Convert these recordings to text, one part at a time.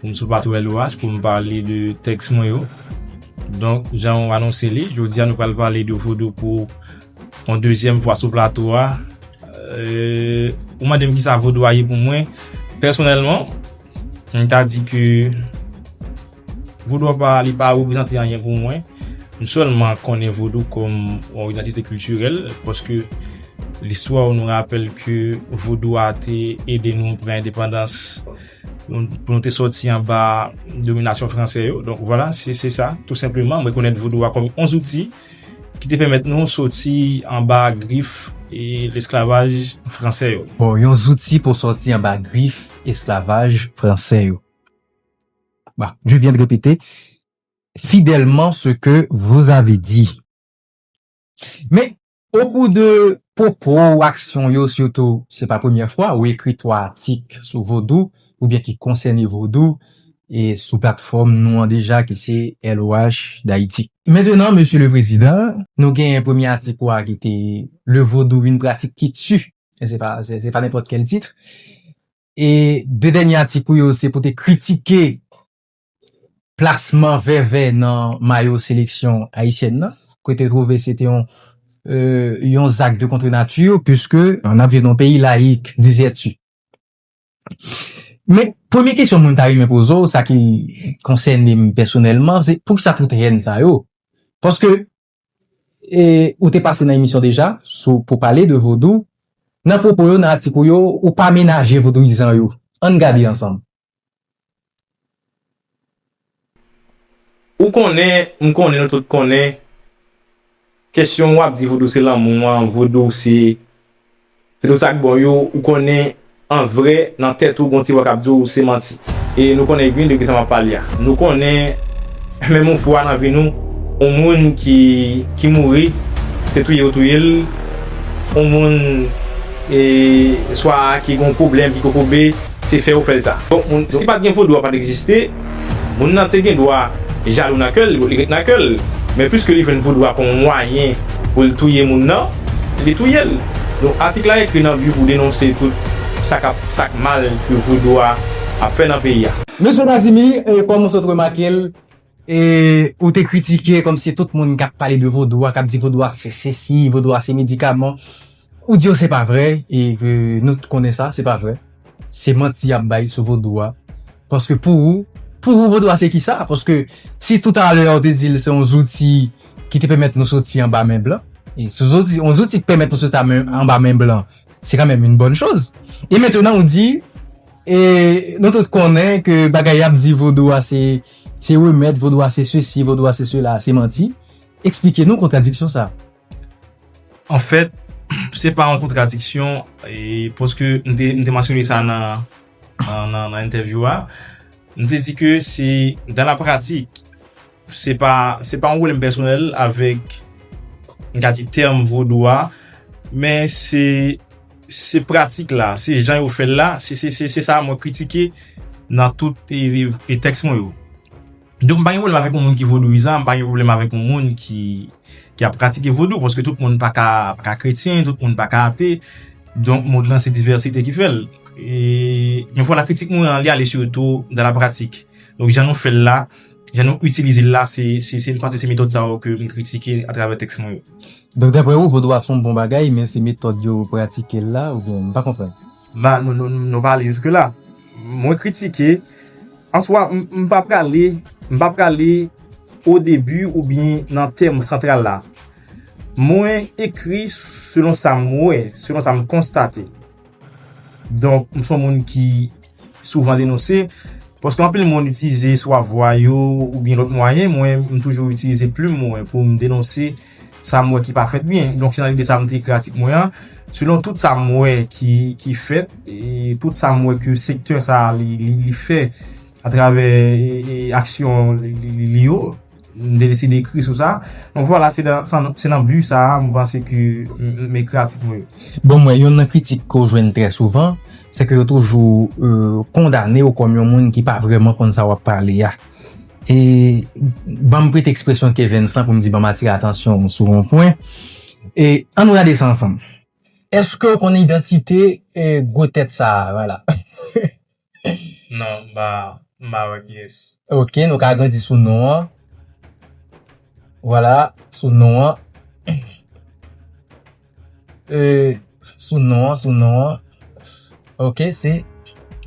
Pou m sou plat wè loraj pou m pale de tèks mwen yo. Donk, jan ou anonse li, jodi a nou pral pale de vodou pou yon dezyèm fwa sou plato a. Ou mande m ki sa vodou a ye pou mwen. Pèsonèlman, m ta di ke vodou a pa li pa reprezante anyen pou mwen. M sèlman konnen vodou kòm yon idantite kiltirèl paske listwa ou nou rapèl ke vodou a te ede nou pran endepandans. pou nou te soti anba dominasyon franse yo. Donk, vwala, se se sa, tou senpleman, mwen konnen vodou a kòm yon zouti ki te pèmèt nou soti anba grif e lesklavaj franse yo. Bon, yon zouti pou soti anba grif esklavaj franse yo. Bon, je viens de répéter fidèlman ce que vous avez dit. Men, O kou de pwopo ou aksyon yo sitou, se pa premyè fwa ou ekri 3 atik sou vodou oubyen ki konsène vodou e sou platfòm nou an deja ki se LOH Dayiti. Mentenan Mesye le Prezidan, nou genyen premye atik ou a ki te Le Vodou, Une pratique qui tue, e se pa, se pa nenpòt kèl titre, e 2 dènye atik ou yo se pou te kritike Plasman Vèvè nan mayo seleksyon ayisyèn nan, ke te twouve se te yon zak de contre nature, puiske n ap viv nan yon peyi layik, dizè-tu. Men, premye kesyon mwen ta renmen poze w, sa ki konsène m pèsonèlman, se poukisa tout hèn sa yo? Paske, ou te pase nan emisyon deja sou pou pale de vodou, nan pwopo yo, nan atik ou yo, ou pa menaje vodouyizan yo. An n gade ansanm. Ou konnen, m konnen, nou tout konnen, kesyon w ap di vodou se lanmou an, vodou se Se tout sak bon yo ou konnen an vrè nan tèt ou gon ti vwa kap di w se manti. E nou konnen byen de kisa map pale a. Nou konnen menm yon fwa nan vi nou yon moun ki mouri se touye yo touye l, yon moun swa ki gon pwoblèm ki kokobe se fè yo fè l sa. Bon si pat gen vodou a pat egziste. Moun nan te gen dwa jalou nan kè l, li ret nan kè l. Men piske li jwenn voudou a kòm mwayen pou l touye moun nan, li touye l. Donk atik la ekri nan bi pou denonse tout sa k ap sa k mal ke voudou a ap fè nan peyi a. Mesye Nazimi, kòm ou sot remake l, ou te kritike kòmsi tout moun k ap pale de voudou a, k ap di voudou a se sesi, voudou a se medikaman, Ou di yo se pa vre e ke nou tout konnen sa, se pa vre. Se manti y ap bay sou vodou a. Paske pou ou, pou ou vodou a se ki sa? Paske si tout a lè a ou te di l se yon zouti ki te pèmèt nou soti anba men blan, e si yon zouti k pèmèt nou soti anba men blan, se kan menm yon bòn choz. E mentenan ou di, e nou tout konnen ke bagay y ap di vodou a se se remèd, vodou a se sesi, vodou a se sela, se manti. Eksplike nou kontradiksyon sa. An fèt, se pa yon kontradiksyon, paske m te mansyone sa nan entèvyou a, m te di ke se dan la pratik, se pa yon pwoblèm pèsonèl avèk, m ka di tèm vodou a, men se pratik la, se jan yo fè l la, se sa mwen kritike nan tout tèks mwen yo. Donk m pa gen pwoblèm avèk yon moun ki vodouyizan, m pa gen pwoblèm avèk yon moun ki ki ap pratike vodou, paske tout moun pa ka pa ka kretyen, tout moun pa ka ate, donk mond lan se divèsite ki fè l. E, yon fwa la kritik mwen an li ale sitou nan la pratik. Donk jan nou fè l la, jan nou itilize l la, se se se m panse se metòd sa yo ke m kritike atravè tèks mwen yo. Donk daprè ou vodou a s on bon bagay men se metòd yo pratike l la oubyen m pa konprann? Nan nou pa ale jiske la. Mwen kritike, an swa m pa prale, m pa prale o debi ou byen nan tèm santral la. Mwen ekri selon sa m wè, selon sa m konstate. Donk m son moun ki souvan denonse, paske anpil moun itilize swa vwa yo ou byen lòt mwayen, mwen m toujou itilize plim mwen pou m denonse. sa m wè ki pa fèt byen. Donk se nan lide sa m te ekri atik mwen an. Selon tout sa m wè ki fèt, tout sa m wè ke sektè sa a li fè atravè aksyon li yo, m te deside ekri sou sa. Donk vwala, se nan bi sa a m panse ke m ekri atik mwen yo. Bon, mwen yon nan kritik ke w jwenn trè souvan, se ke yo toujou kondane w kòm yon moun ki pa vrèman konn sa w ap pale a. e ban m prete ekspresyon ke Vensan pou m di ban m atire atansyon ou sou yon pwen, e an nou gade sa ansanm. Eske ou konnen idantite gwo tèt sa a? Vwala. Non, m pa, m pa wè kiyès. Ok, nou ka agrandi sou non an. Vwala, sou non an. Euh sou non an sou non an ok se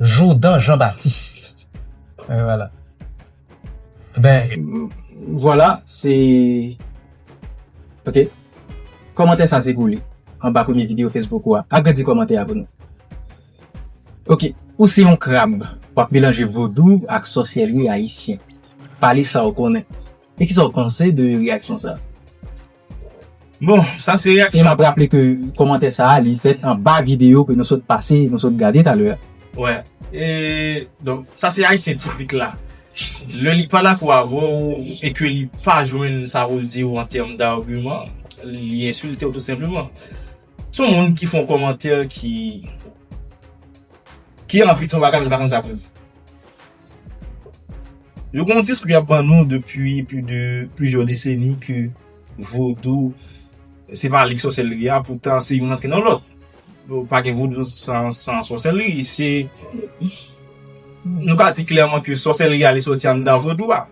Jourdan Jean Baptiste euh voilà ben voilà se ok kòmantè sa se pou li anba premye video Facebook ou a agrandi kòmantè a pou nou ok ou se yon krab wap melanje vodou ak sòsyèri ayisyen pale sa ou konnen e kisa ou panse de reyaksyon sa. Bon, sa se reaksyon. E map raple ke komantè sa a li fèt anba video ke nou sot pase, nou sot gade talè a. Wè, e donk sa se ayisyen tipik la. Lè li pa dakò avè w e ke li pa jwenn sa pou l di w an tèm dagiman, li ensilte w tou senpleman. Se yon moun ki fè yon komantè ki anvi di yon bagay men li pa konn sa pou l di. Yo gen yon diskou y ap ban nou depi plizyè deseni ke vodou se pa li ki sòsèlri a, poutan se youn antre nan lòt. Pa gen vodou san sòsèlri. Nou ka di klèman ke sòsèlri a li sòti anndan vodou a.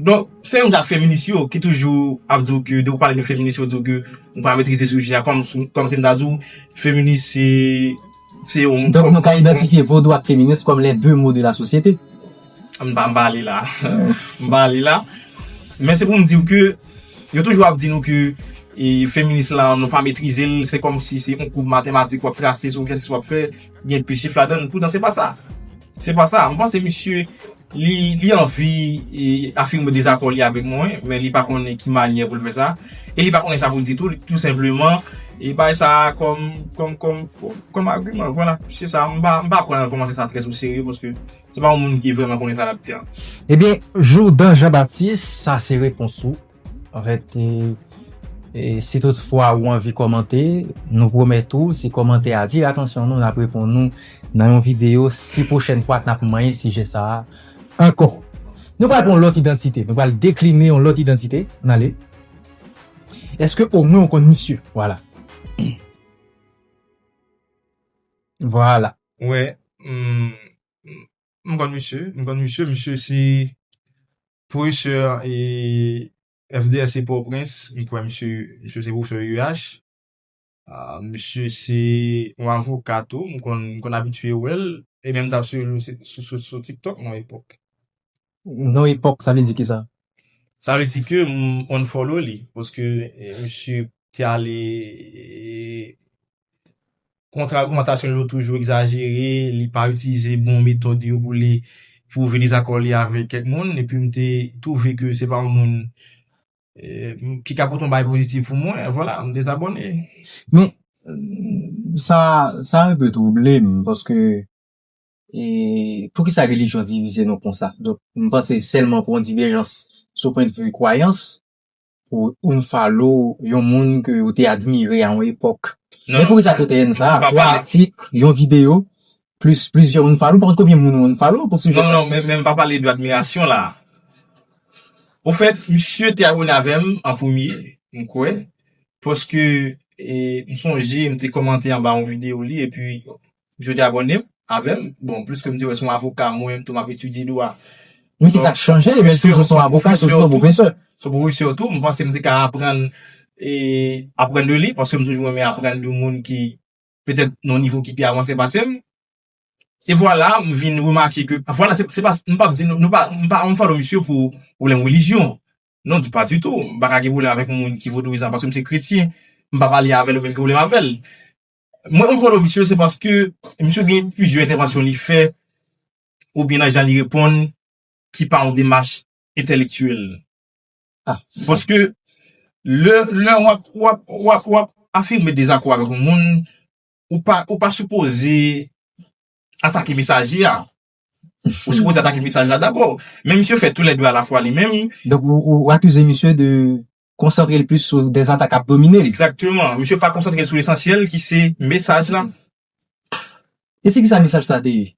Donk, se menm jan ak feminis yo ki toujou ap di w ke depi w pale de feminis yo di w ke ou pa metrize sijè a. Kòm si m ta di w feminis se Se yon moun. Donk nou ka idantifye vodou ak feminis kòm les deux maux de la société. M pa ba li la. M pa li la. Men se pou m di w ke yo toujou ap di nou ke feminis la nou pa metrize l. Se kòm si se yon koub matematik w ap trase sou kèk chwa w ap fè. Gen pi chif ladan l. Poutan se pa sa. Se pa sa. M panse misye. Li anvi afime dezakò li avèk mwen, men li pa konnen ki manyè pou l fè sa. E li pa konnen sa pou l di tou, tou senpleman li bay sa kòm agiman. Vwala, se sa. M pa pran kòmantè sa trèz o serye paske se pa yon moun ki vrèman konnen sa l ap di an. Ebyen, Jourdan Jean Baptiste, sa se repons ou. En fèt, si tout fwa ou anvi komante, nou pwomèt ou, si komante a atire atansyon nou, nap reponn nou nan yon video, si pwochèn fwa nap manyen sijè sa a ankò. Nou pral pran yon lòt idantite, nou pral dekline yon lòt idantite, nale. Eske o mwen ou konn misye? Vwala. Vwala. Wè, m konn misye, m konn misye, misye se Professor FDR se port au prince m kwè misye misye se professor UH misye se yon avoka tou m konn m konn abitye wè l e menm m tap swiv l sou sou tiktok yon epòk. Non epòk sa vle di kisa? Sa vle di ke m unfollow li paske misye te ale Kontra ogmantasyon yo toujou egzajere, li pa itilize bon metòd yo pou li pwouve dezakò li avèk kèk moun, epi m te twouve ke se pa yon moun ki ka pote yon bagay pozitif pou mwen, vwala, m dezabòne. Men, sa, sa enpe twouble m, paske, e, poukisa relijyon divize nou konsa? Donk, m panse sèlman pou yon divèjans sou pwennvi kwayans, pou unfollow yon moun ke ou te admire a yon epòk. Men pou ki sa tout èn sa a? 3 atik, yon videyo, plis plizyè unfollow, pa kont konbyen moun ou unfollow pou sijè sa a? Non, non, men m pa pale de admirasyon la a. Ofèt, misye te abone avè m an premye, m kwè, paske m sonje m te kòmante anba yon videyo li epi M swete abòne avèm bon plis kem te wè son avoka mwen menm tou map etidye dwa. Men ki sak chanje menl toujou son avoka toujou son pwofesè. Son pwofesè tou m panse m te ka aprann aprann de li paske m toujou renmen aprann de moun ki petèt nan nivo ki pi avanse pasem e vwala m vin remake ke vwala se pa m pap di nou nou pa m pa anfwa de misye pou pwoblèm relijyon non di pa ditou m pa ka gen pwoblèm avèk moun ki vodouyizan paske m se kretyen m pa pale avèl ou menm gen pwoblèm avèl. Mwen unfollow misye se paske misye gen plizyè entèvansyon li fè oubyen nan jan li reponn ki pa yon demach entèlektyèl. Paske lè w ap afime dezakò avèk yon moun, ou pa sipoze atake mesaje a. Ou sipoze atake mesaj la dabò. Men misye fè tou lè de alafwa li menm. Donk ou akize misye de konsantre l plis sou de zanta k ap domine l. Egzakteman. Misye pa konsantre l sou lesansyèl ki se mesaj la. E se kisa mesaj sa te ye?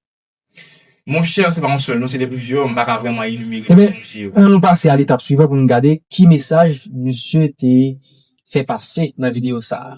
Monchè, se pa yon sèl non, se de plizyè, m pa ka vrèman enimere yo, sonje yo. Enben, an nou pase al etap swivan pou nou gade ki mesaj misye te fè pase nan videyo sa a.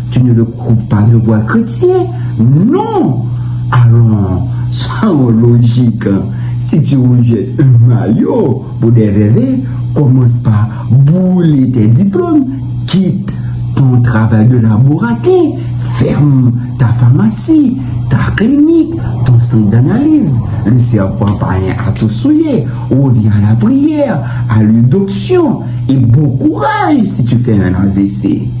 Tine le koup pa gen vwa kretyen non alon sa yon lojik si ti wonje ma yo pou de veve komanc pa boule tè diplom kit pou yon travay de laborate fèm ta famasi ta klinik ton sant danaliz le sèpan payen a tou souye revyen a la priyè a le doksyon e bon kouraj si tu fè un avc.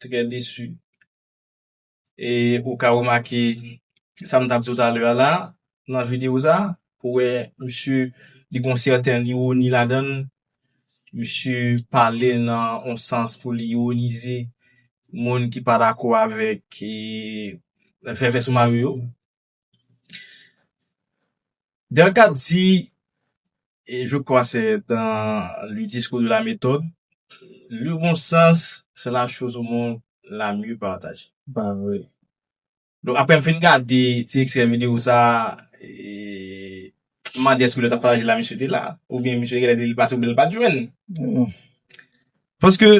Trè desu. E ou ka remake sa m t ap di w talè a la, nan videyo sa, ou wè misye li gen yon sèten iwoni ladan l. Misye pale nan yon sans pou li iwonize moun ki pa dakò avèk vèvè sou mare yo. Delcath di, e je kwa se dan le diskou de la metòd, le bon sans se la choz o mond la mye pataje. Ba vre. Donk apre m fin gade ti ekstrè videyo sa a, m mande èske lè l t ap pataje la misye te la oubyen misye genlè te li pase oubyen l pa t jwenn. Paske.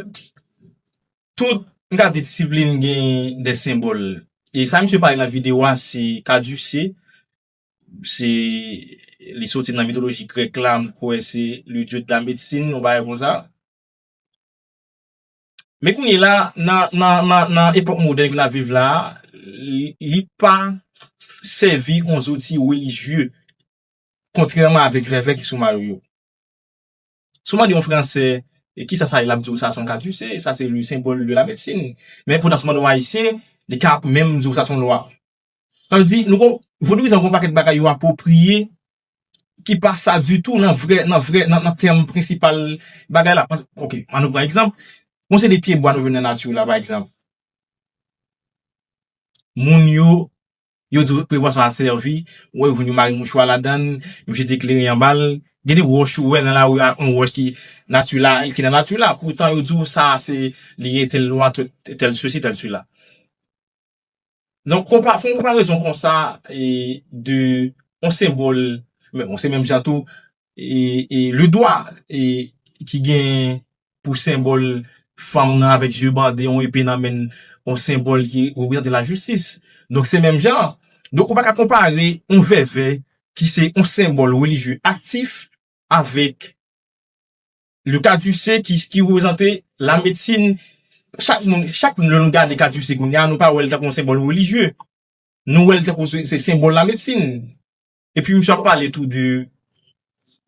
Tout, m ka di disiplin gen de senbòl. E sa misye pale nan videyo a se Kaduse, se li soti nan mitoloji grèk la, m kwè se le dieu de la médecine, yon bagay konsa. Men kounye la, nan epòk modèn ke n ap viv la a, li pa sèvi yon zouti relijye, kontrèman avèk vèvè ki sou mayo yo. Si w mande yon Fransè ki sa sa ye, l ap di w sa se yon katise, sa se le senbòl de la medsin. Men poutan si w mande yon Ayisyen, li ka menm di w sa se yon lwa. Sa vle di, vodouyizan gen yon pakèt bagay yo apwopriye ki pa sa ditou nan vrè, nan vrè, nan tèm prensipal bagay la. Ok, an nou pran egzanp, gen yon seri de pyebwa nou jwenn nan nati la pa egzanp. Moun yo Yo di w prevwa sa a sèvi, wè yo jwenn yon mari mouchwa ladan l, yo jete kleren anba l. Gen de wòch ou wè nan lari a, yon wòch ki natila, ki nan nati la, poutan yo di w sa a se li gen tèl lwa, tèl sesi, tèl sela. Donk konpa, fè yon konparezon konsa de yon senbòl, men bon se menm jan tou, Le dwa ki gen pou senbòl fanm nan avèk zye bande, yon epe nan men, yon senbòl ki reprezante lajistis. Donk se menm jan. Donk ou pa ka konpare yon vèvè ki se yon senbòl relijye aktif avèk le kadise ki reprezante lamedsin. Chak moun, chak moun lè nou gade kadise kounya nou pa wè l tankou yon senbòl relijye. Nou wè l tankou se senbòl lamedsin. Epi misye ap pale tou de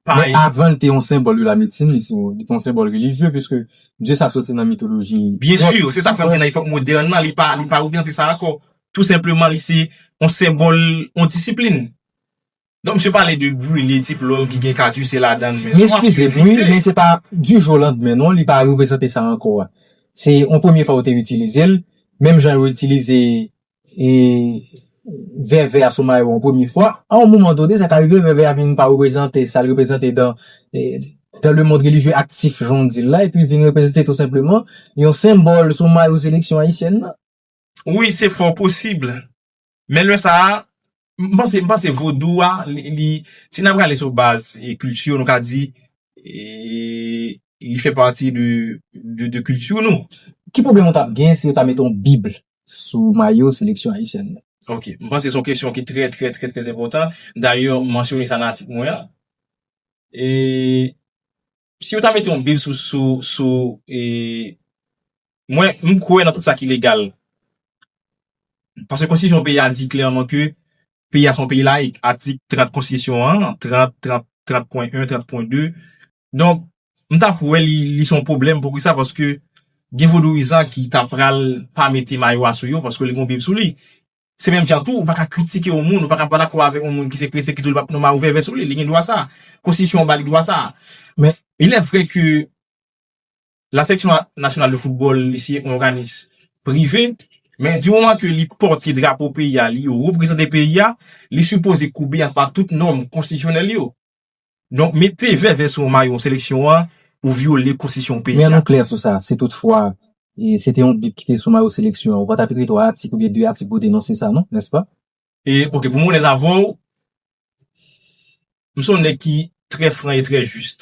pa. Men avan li te yon senbòl de la medsin, li te yon senbòl relijye piske dye sa soti nan mitoloji grèk. Byen sur, se sa m fè m di nan epòk modèn nan, li pa oryante sa ankò. Tou senpleman li se yon senbòl yon disiplin. Donk misye pale de brile diplòm ki gen kat use ladan l. Men eskize m wi, men se pa di jou o landmen non, li pa reprezante sa ankò. Se yon premye fwa yo te itilize l, menm jan yo itilize e vèvè a sou mayo yon premye fwa. A yon moman donne, sa ka rive vèvè a vin pa reprezante sa l reprezante dan le mond relijye aktif, jan w di l la, epi l vin reprezante tou senpleman yon senbòl sou mayo seleksyon ayisyèn nan. Wi, se fò posib. Men lè sa a, M panse, m panse vodou a li, si n ap gade sou baz kilti yo nou ka di li fè pati de kilti nou. Ki pwoblèm ou t ap gen si yo ta mete yon bib sou mayo seleksyon ayisyèn nan? Ok, m panse se yon kesyon ki trè trè trè trè enpòtan. Dayè m mansyone sa nan atik mwen an. Si yo ta mete yon bil sou Mwen m kwè nan tout sa ki legal Paske konstitisyon peyi a di klèman ke Peyi a se yon peyi layik Atik 30 konstitisyon an 30, 30, 30 pwen 1, 30 pwen 2 Donk m ta p wè li se yon pwoblèm pou ki sa paske gen vodouyizan ki ta pral pa mete mayo a sou yo paske li gen yon bib sou li Se menm jan tou, ou pa ka kritike yon moun, ou pa ka pa dakò avèk yon moun ki se prese ki di w li pa p nou mawouvèvè sou li, li gen dwa sa a. Konstitisyon an ba li dwa sa a. Men, ilè vrè ke La Section Nationale de Football li se yon òganis prive, men di moman ke li pòte drapo peyi a, li reprezante peyi a, li sipoze koube anba tout nòm konstitisyonèl yo. Donk mete vèvè sou yon mayo seleksyon an, ou vyole konstitisyon peyi a. Men an nou klè sou sa, si tout fwa se te yon bip ki te sou mayo seleksyon an, ou pa t ap ekri 3 atik oubyen 2 atik pou w denonse sa non, nèspa? E ok, pou mwen onèt avè w, m se yon nèg ki trè fran e trè jis.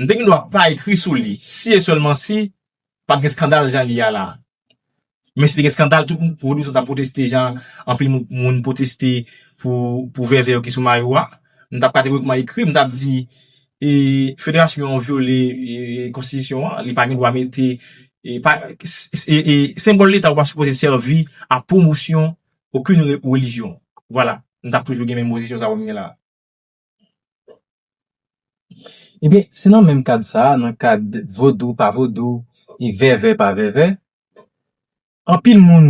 M te gen dwa pa ekri sou li si e sèlman si pat gen skandal jan li a la. Men si te gen skandal tout vodou sa t ap pwoteste jan anpil moun pwoteste pou vèvè yo ki sou mayo a. M t ap kategorikman ekri, m t ap di federasyon an vyole konstitisyon an, li pa gen dwa mete senbòl leta yo pa sipoze sèvi a pwomosyon okenn relijyon. Vwala, m t ap toujou gen menm pozisyon sa a m gen la a. Ebyen, se nan menm kad sa a, nan kad vodou pa vodou e vèvè pa vèvè, anpil moun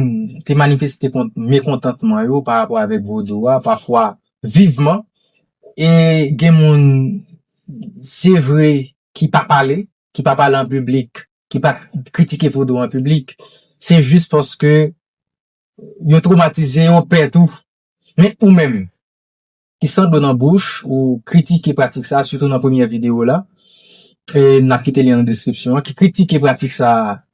te manifeste kont mekontantman yo pa rapò avèk vodou a, pafwa vivman, e gen moun, se vre, ki pa pale, ki pa pale an piblik, ki pa kritike vodou an piblik, se jis paske yo twomatize, yo pè tou. Men, ou menm? ki san dlo nan bouch ou kritike pratik sa sitou nan premyè videyo w la e n ap kite lyen nan deskripsyon an ki kritike pratik sa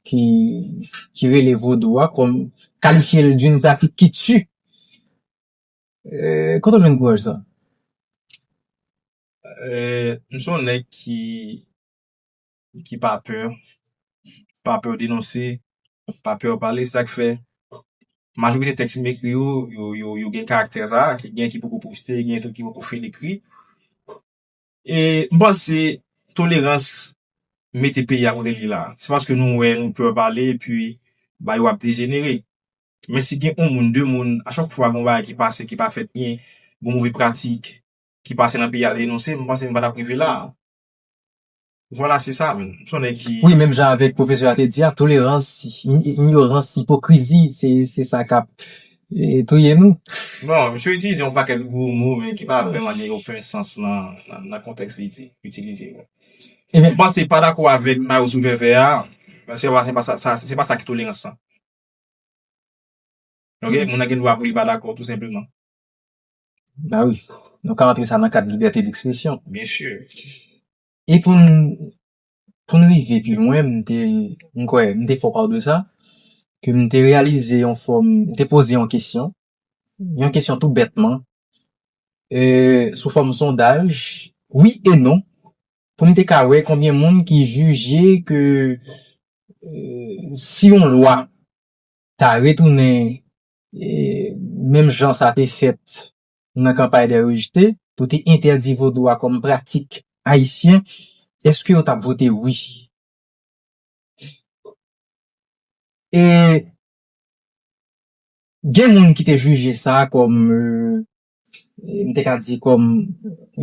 ki rele vodou a kòm kalifye l d'une pratique qui tue kote w jwenn kouraj sa? M se yon nèg ki ki pa pè, pa pè denonse, pa pè pale, sak fè majorite tèks m ekri yo, yo gen karaktè sa, gen ki poko poste, gen tou ki poko fin ekri. E m panse tolerans mete peyi a kote li la. Se paske nou wè nou pè pale epi bagay yo ap dejenere. Men si gen yon moun, de moun, a chak fwa gon bagay ki pase ki pa fèt byen, gon move pratik ki pase nan peyi a denonse, m panse nou pa tap rive la. Vwala se sa, m son nèg ki. Wi menm jan avèk pwofesè a te di a, tolerans, inyorans, ipokrizi se sa k ap touye nou. Bon, misye itilize yon pakèt gwo mo men ki pa vrèman gen oken sans nan kontèks li itilize yo. Ebyen. M panse pa dakò avèk mayo sou vèvè a, se pa sa, se pa sa ki tolerans lan. Ok, moun nan gen dwa pou li pa dakò tou senpleman. Ba wi, nou ka antre sa nan kad libète dekspresyon. Byen si. E pou n, pou n rive pi lwen, m te, m kwè, m te fè w pale de sa, ke m te reyalize yon fòm, m te poze yon kesyon, yon kesyon tou bètman, ee, sou fòm sondaj, wi e non, pou m te ka wè konbyen moun ki jije ke, ee, si yon lwa ta retounen menm jan sa te fèt nan kanpay dè rejte, pou te entèdi vodou a kòm pratik ayisyen, èske yo t ap vote wi? E gen moun ki te jije sa kòm, m te ka di kòm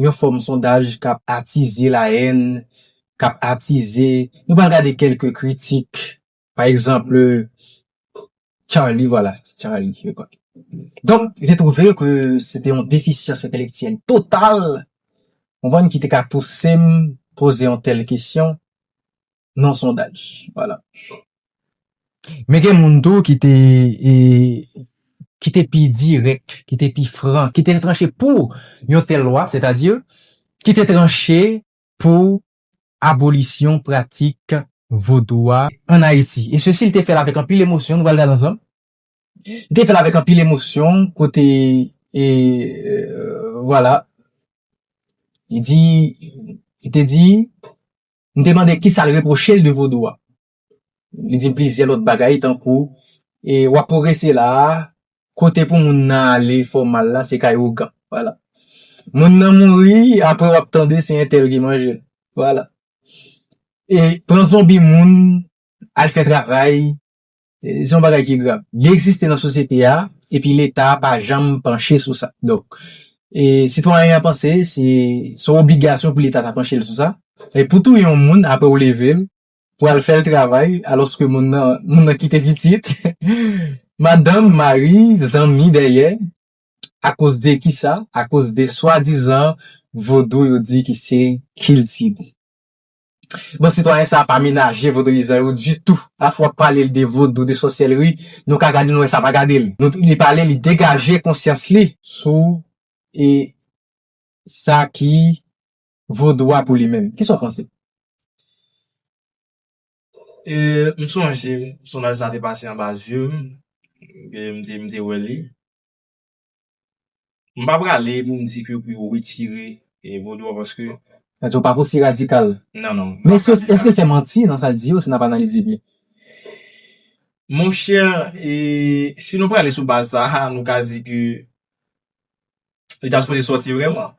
yon fòm sondaj k ap atize layèn, k ap atize, nou pral gade kèlke kritik Pa ekzanpl, Charlie, vwala, Charlie, je kwa. Donk, li te twouve ke se te yon defisyans entelektyèl total, konprann, ki te ka pouse m poze yon tèl kesyon nan yon sondaj. Vwala. Men gen moun tou ki te, ki te pi dirèk, ki te pi fran, ki te tranche pou yon tèl lwa, sètadi, ki te tranche pou abolisyon pratik vodou a an Ayiti. E sesi li te fè l avèk anpil emosyon, nou pral gad ansanm. Li te fè l avèk anpil emosyon kote e vwala li di li te di m te mande kisa l repwoche l de vodou a. Li di m plizyè lòt bagay tankou, e w ap pwogrese la a, kote pou moun nan ale fè w mal la se kay ougan. Vwala. Moun nan mouri, apre w ap tande se entèl ki manje l. Vwala. E pran zonbi moun, al fè travay, se yon bagay ki grav. Li egziste nan sosyete a, epi Leta pa janm panche sou sa. Donk, sitwayen an panse se yon obligasyon pou Leta ta panche sou sa. E pou touye yon moun apre ou leve l, pral fè l travay alòske moun nan moun nan kite pitit madanm, mari, zanmi dèyè akoz de kisa? akoz de swadizan vodou yo di ki se kilti nou. Bon sitwayen sa pa menaje vodouyizan yo ditou afè w ap pale l de vodou, de sòsyèlri nou ka gade l nou wè sa pa gade l nou li pale li degaje konsyans li sou e sa ki vodou a pou li menm. Kisa w panse? M sonje sonaj sa te pase anba zye m, e m te wè li. M pa prale pou m di ke pou yo retire vodou a paske. Sa vle di ou pa pou si radikal. Non, non. Men èske l fè manti nan sa l di yo si n ap analize byen? Monchè, si nou prale sou baz sa a, nou ka di ke li ta sipoze sòti vrèman.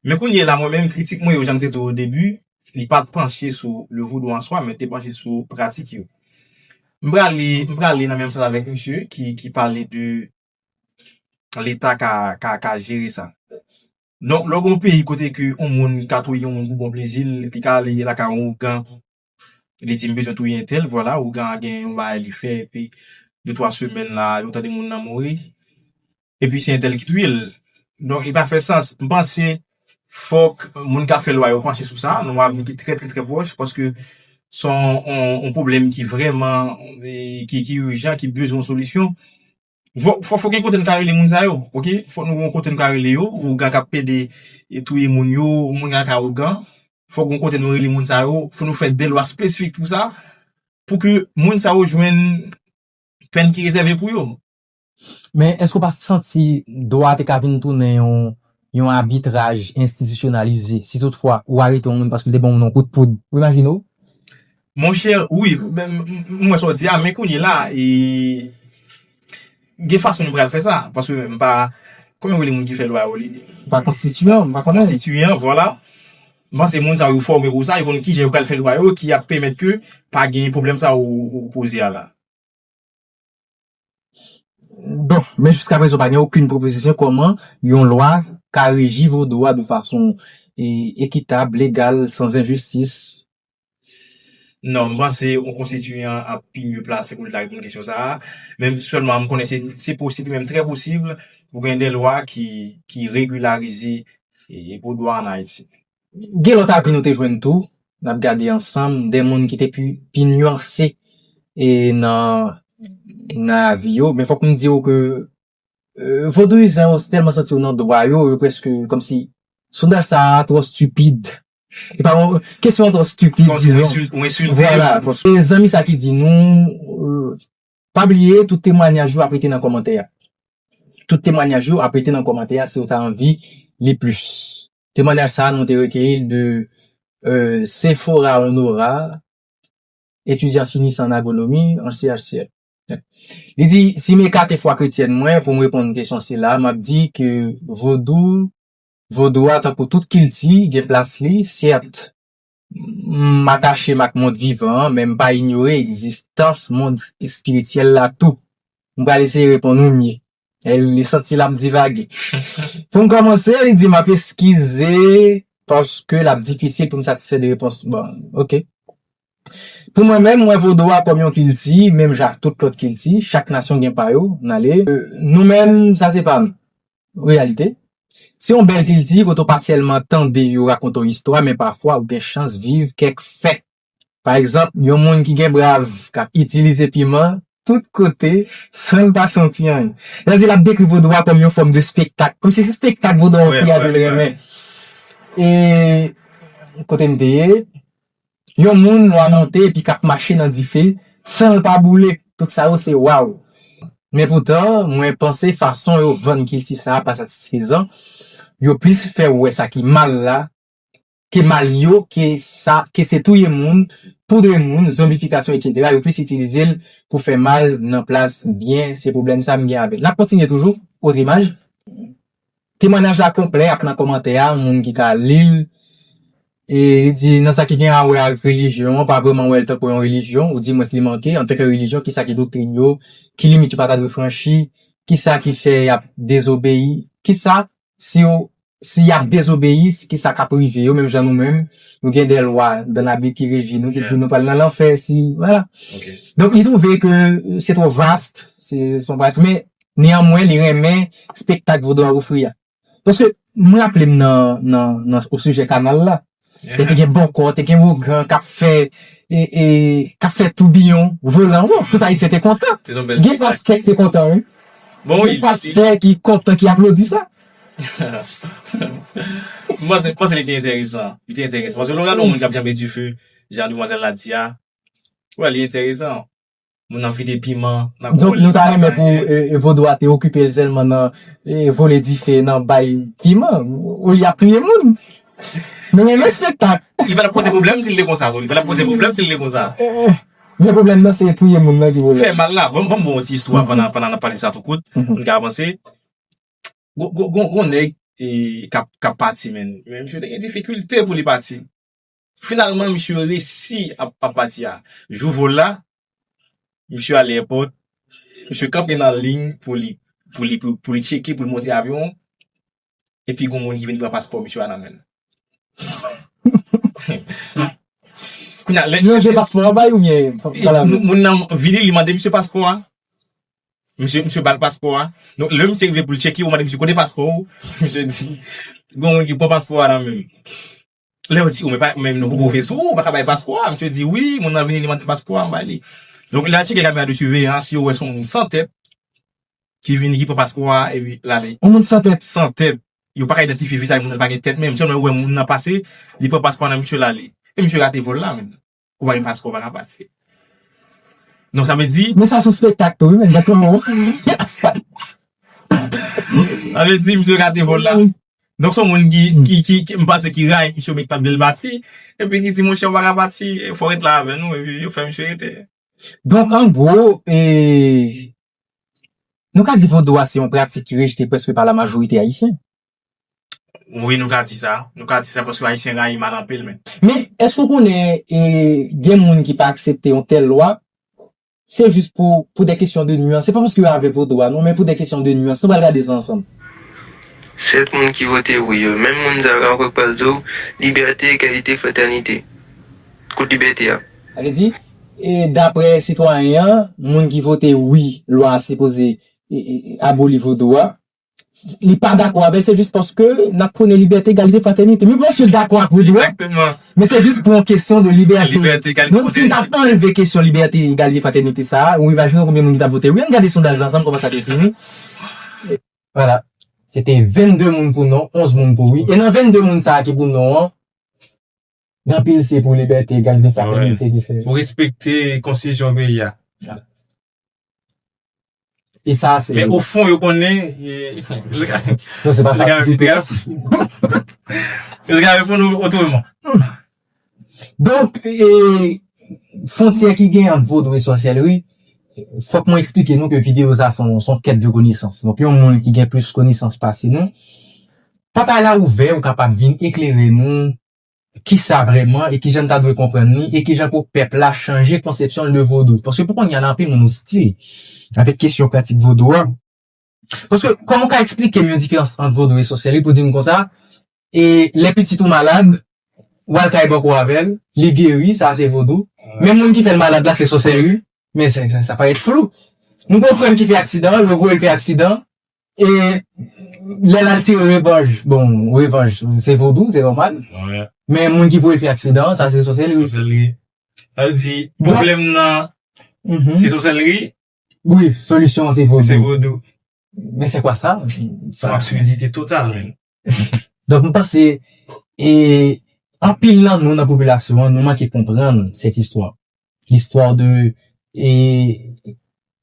Men kounye la mwen menm kritik mwen yo jan m te di w o debi, li pa t panche sou le vodou an swa men li te panche sou pratik yo. M pral li, m pral li nan menm sans avèk misye ki pale de leta ka jere sa. Donk lè w gen yon peyi kote ke yon moun ka touye yon moun pou bon plezi l, li ka ale lakay yon ougan Li di, m bezwen touye entèl, vwala, ougan an gen yon bagay li fè epi de twa semèn la a, nou tande moun nan mouri, epi se entèl ki touye l. Donk li pa fè sans. M panse fòk moun k ap fè lwa yo panche sou sa, lwa vin ki trè trè trè pwòch paske se yon pwoblèm ki vrèman ki ijan, ki bezwen yon solisyon. Fòk gen kote nou ka rele moun sa yo ok fòk nou gen kote nou ka rele yo ougan kap pede touye moun yo moun kap ka ougan fòk gen kote nou rele moun sa yo fòk nou fè de lwa spesifik pou sa pou ke moun sa yo jwenn pèn ki rezève pou yo. Men èske ou pa santi dwa te ka vin tounen yon abitraj enstitisyonalize si tout fwa ou arete yon moun paske li te ban yon moun yon kout poud ou imajine w Monchè wi m wè sa w di a men kounye la e gen fason nou pral fè sa paske m pa kòman yo rele moun ki fè lwa yo m pa konstitiyan m pa konnen konstitiyan vwala m panse moun sa yo fòme pou sa yo konn kijan yo pral fè lwa yo ki ap pèmèt ke pa gen pwoblèm sa w poze a la. Bon, men jiskaprezan pa gen okenn pwopozisyon kòman yon lwa ka reji vodou a de fason ekitab, legal, san enjistis. Non, m panse yon konstitiyan ap pi mye plase pou l ta reponn kesyon sa a. Men sèlman m konnen se posib e menm trè posib pou gen de lwa ki regilarize vodou a an Ayiti. Gen lòt avi nou te jwenn tou, n ap gade ansanm, de moun ki te pi nyanse nan avi yo. Men fòk m di ou ke vodouyizan yo tèlman santi yo nan dwa yo, yo prèske kòm si sondaj sa a twò stipid. E pa yon kesyon twò stipid, dizon. Ou ensilte yo. Vwala. Gen zanmi sa ki di nou. Pa bliye tout temwanyaj yo ap rete nan kòmantè a tout temwanyaj yo ap rete nan kòmantè a si ou ta anvi li plis temwanyaj sa nou te rekeyi l de Sephora Honora etidyan finisan an agronomi an CHCL li di si m ekate fwa kretyèn mwen pou m reponn kesyon sila m ap di ke vodou vodou a tankou tout kilti gen plas li sèt M atache m ak mond vivan an, men m pa inyore egzistans mond espirityèl la tou. M pral eseye reponn ou mye. L e santi l ap divage. Pou m kòmanse, li di m ap eskize paske l ap difisil pou m satisfè de repons bon an. Ok. Pou mwen menm, m wè vodou a kòm yon kilti, menm jan ak tout lòt kilti. Chak nasyon gen pa yo. N ale. Nou menm, sa se pa nou. Reyalite, Se yon bèl kilti kote w pa sèlman tande yo rakonte w istwa men pafwa ou gen chans viv kèk fè. Pa egzanp, yon moun ki gen brav k ap itilize piman tout kote san l pa santi anyen. Sètadi, l ap dekri vodou a kòm yon fòm de spektak, kòmsi se spektak vodou a ofri a ke l renmen. E kote m te ye? Yon moun nwa monte epi k ap mache nan dife san l pa boule. Tout sa yo se waw. Men poutan, mwen panse fason yo vann kilti sa a pa satisfezan. Yo plis fè ou wè sa ki mal la ke mal yo ke sa ke se touye moun, poudre moun, zonbifikasyon etsetera. Yo plis itilize l pou fè mal nan plas byen. Se pwoblèm sa a m gen avè l. N ap kontinye toujou. Otre imaj. Temwanyaj la konplè ap nan kòmantè a moun ki ka li l. E li di nan sa ki gen a wè ak relijyon, pa vrèman wè l tankou yon relijyon, ou di mwens li manke, antanke relijyon kisa ki doktrin yo, ki limit yo pa ta dwe franchi, kisa ki fè y ap dezobeyi, kisa si yo si y ap dezobeyi kisa k ap rive yo menm jan nou menm nou gen de lwa dan labib ki reji nou ki di nou pral nan lanfè si wala donk li twouve ke se twò vast se son pati men Neanmwen li renmen spektak vodou a ofri a. Paske m raple m nan o sijè kanal la, lè te gen bòkò, te gen ougan k ap fè, k ap fè toubiyon volan, wouff, tout ayisyen te kontan. Gen pastè k te kontan wi. Gen pastè ki kontan, ki aplodi sa. M panse li te enteresan. Li te enteresan. Paske lè w gade yon moun k ap janbe dife, jan demwazèl la di a, wè li enteresan. Moun ap vide piman nan kò li. Donk nou ta renmen pou vodou a te okipe l sèlman nan vole dife, nan bay piman. Olye y ap touye moun. Nou renmen spektak. Li pa t ap poze pwoblèm si l te konsa tou. Li pa t ap poze pwoblèm si l te konsa. Men pwoblèm nan se touye moun nan ki pwoblèm. Fè mal la. Ban m ba w yon ti istwa pandan n ap pale sa tou kout pou n ka avanse. Gon nèg k ap pati men. Men misye te gen difikilte pou li pati. Finalman misye resi ap pati a jou vol la misye ale èpòt misye kanpe nan liy pou li pou li pou li tcheke pou li monte avyon an epi gon moun ki vin pran paspò misye a nan menl kounye a lè misye gen paspò a bay oubyen moun nan vini li mande misye paspò a misye misye bal paspò a donk lè misye rive pou li tcheke yo mande misye kote paspò ou misye di gon moun ki pran paspò a nan menl. Lè yo di, ou men nou poko vin sou ou, ou paka bay paspò a. Misye di, wi, moun nan vini, li mande paspò a, m bay li. Donk, lè al tcheke kamera de siveyans, yo wè son moun san tèt ki vini, ki pran paspò a, epi l ale. Yon moun san tèt? San tèt. Yo paka idantifye vizaj moun nan, li pa gen tèt menm. Sèlman yo wè moun nan pase, li pran paspò a nan misye, l ale. E misye rate vòl la menm. ou pa gen paspò ou paka pati donk sa vle di Men sa son spektak tou wi men gad kòman ou Sa vle di misye rate vòl la Donk son moun ki m panse ki rayi misye oubyen ki pat vle l pati epi ki di monchè ou paka pati fò w ret la avè nou epi yo fè misye rete Donk an gwo e nou ka di vodou a se yon pratik ki rejte prèske pa la majorite ayisyen Wi nou ka di sa, nou ka di sa paske ayisyen rayi mal anpil men. Men, èske ou konnen gen moun ki pa aksepte yon tèl lwa, se jis pou pou dè kesyon de nuans, se pa paske yo avè vodou a non, men pou dè kesyon de nuans, nou pral gade sa ansanm. 7 moun ki vote wi yo, menm moun sa yo ka anfòk pral di w, libète, egalite, fratènite. Kot libète a? Sa vle di, daprè sitwayen an, moun ki vote wi lwa a sipoze aboli vodou a, li pa dakò avèl se jis paske nap prone libète egalite fratènite men mwen si dakò ak Widoo men se jis pou yon kesyon de libète donk si nou ta anleve kesyon libète egalite fratènite sa ou imajine w konbyen moun ki tap vote wi ann gade sondaj la ansanm kòman sa te fini wala se te 22 moun pou non 11 moun pou wi e nan 22 moun sa ki pou non an Nan pil se pou libète, egalite, fratènite ki fè. Pou respekte konstitisyon peyi a. E sa se. Men o fon yo konnen. Non se pa sa ki di. Yo te ka reponn ou otreman. Donk, fontyè ki gen ant vodou e sòsyèlri, fòk mwen eksplike nou ke videyo sa son kèt de konesans. Donk yon moun ki gen plis konesans pase nou. Pòtay la ouvè ou kapab vin eklere nou kisa vrèman e kijan n ta dwe konprann li e kijan pou pèp la chanje konsepsyon l de vodou paske pou konnya la anpil moun ostil avèk kesyon pratik vodou a paske kòman ou ka eksplike m yon diferans ant vodou e sòsèri pou di m konsa e lè pitit ou malad w al kay bòkò avè l li geri sa a se vodou men moun ki fè l malad la se sòsèri men sa parèt flou m gen yon frè m ki fè aksidan yo voye l fè aksidan E lè lal tire revanj, bon revanj se vodou, se nòmal. Wè. Men moun ki voye fè aksidan an, sa se sòsèlri. Sòsèlri. Sa vle di, pwoblèm nan se sòsèlri. Wi, solisyon an se vodou. Se vodou. Men se kwa sa? Son absurdite total menm. Donk m panse e anpil nan nou nan popilasyon an nou manke konprann sèt istwa. Listwa de e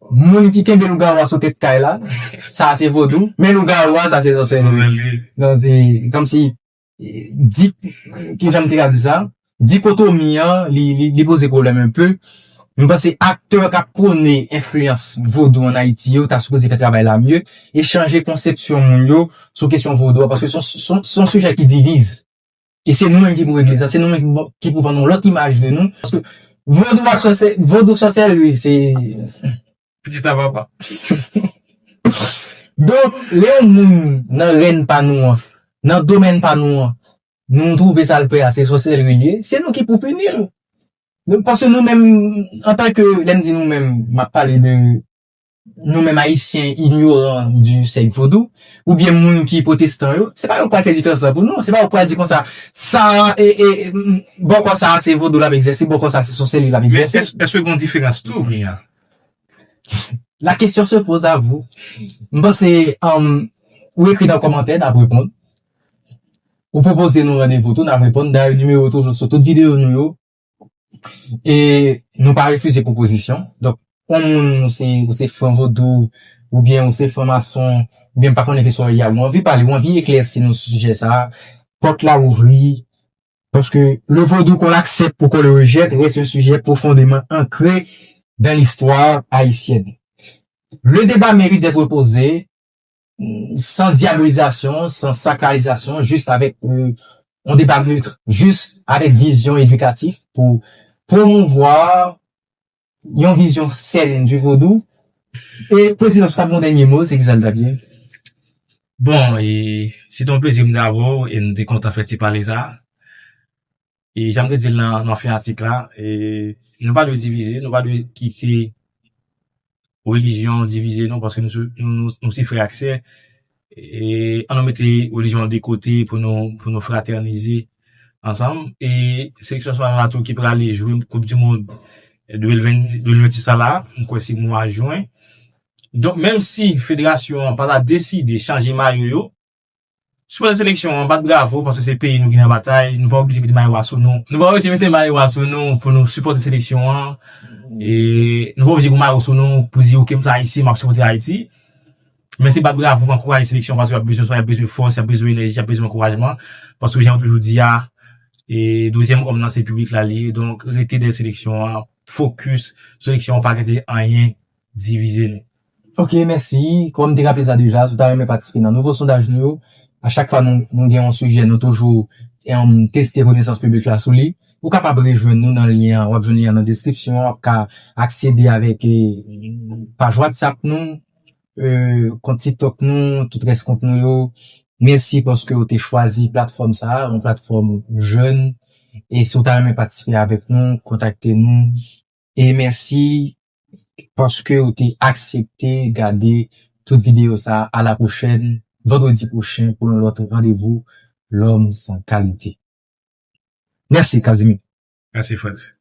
moun ki kenbe lougawou a sou tèt kay la, sa a se vodou, men lougawou a sa se zòsèlri. Zòsèlri. Donk se kòmsi di, ki jan m te ka di sa? Dikotomi an li poze pwoblèm un peu. M panse aktè k ap pwone enfliyans vodou an Ayiti yo ta sipoze fè travay la mye e chanje konsepsyon moun yo sou kesyon vodou a paske s on sijè ki diviz e se nou menm ki pou regle sa, se nou menm ki pou vann yon lòt imaj de nou paske vodou ak sòsè, vodou sòsèri se pitit a papa donk lè yon moun nan rèn pa nou an nan domèn pa nou an Nou m twouve sa l fè a se sòsèri l ye, se nou ki pou pini l. Nou paske nou menm antan ke lè m di nou menm m ap pale de nou menm ayisyen inyoran di sèk vodou oubyen moun ki pwotestan yo, se pa yo k pral fè diferans lan pou nou, se pa yo k pral di konsa sa a e e bòkò sa a se vodou l ap egzèse bòkò sa a se sòsèri l ap egzèse. Men èske gon diferans tou vre a? La question se pose à vous. M panse ou ekri nan kòmantè n ap reponn. Ou pwopoze nou randevou tou, n ap reponn. Dayè nimewo w toujou sou tout videyo nou yo. E nou pa refize pwopozisyon. Donk, yon moun ou se fran vodou, oubyen ou se fran mason, oubyen m pa konnen ki sa w ye a, ou anvi pale, ou anvi eklèsi nou sou sijè sa a, pòt la ouvri. Paske le vodou kon l'aksèp ou kon le rejèt rès yon sijè pwofondeman ankre dan listwa ayisyèn. Le deba merite d'être posé. san dyabolizasyon, san sakrarizasyon, jis avèk yon deba neutre, jis avèk vizyon edikatif pou pwomouvwa yon vizyon sèn di vodou. E Prezidan, si w ta gen yon dènye mo, se kisa l ta p ye? Bon, e, se te yon plezi pou m te avè w e m te kontan fè ti pale sa a. E jan m te di l nan fen atik la, nou pa dwe divize, nou pa dwe kite relijyon divize nou paske nou se frè ak sè. An nou mete relijyon an de kote pou nou fratènize ansanm. E seleksyon nasyonal la tou ki prale jwe koup di mond 2026 la la, m kwè se mwa jwen. Donk menm si federasyon an pa ta deside chanje mayo yo, Sipòtè seleksyon an bat bravo paske se peyi nou ki nan batay, nou pa oblije mete mayo a sou nou. Nou pa oblije mete mayo a sou nou pou nou sipòte seleksyon an. E nou pa oblije gen mayo sou nou pou di oke m se ayisyen m ap sipòte Ayiti. Men se bat bravo pou ankouraje seleksyon paske y ap bezwen sa, y ap bezwen fòs, y ap bezwen enèji, y ap bezwen ankourajman. Paske jan yo toujou di a, e dezyèm òm nan se piblik la li ye. Donk rete dèyè seleksyon an, fokis seleksyon an pa gen te anyen divize nou. Ok mèsi, kòm m te raple sa deja, si w ta renmen patisipe nan nouvo sondaj nou yo, a chak fwa nou gen yon sijè nou toujou teste konesans piblik la sou li, ou kapab rejwenn nou nan lyen an, w ap jwenn lyen an nan deskripsyon an, w ap ka aksede avèk paj whatsapp nou, kont tiktok nou, tout rès kont nou yo. Mèsi paske w te chwazi platfòm sa a, yon platfòm jèn, e si w ta renmen patisipe avèk nou, kontakte nou. E mèsi paske ou te aksepte gade tout videyo sa a la pwochèn vandredi pwochen pou yon lòt randevou L'homme sans qualité. Mèsi Casimir. Mèsi Frantz.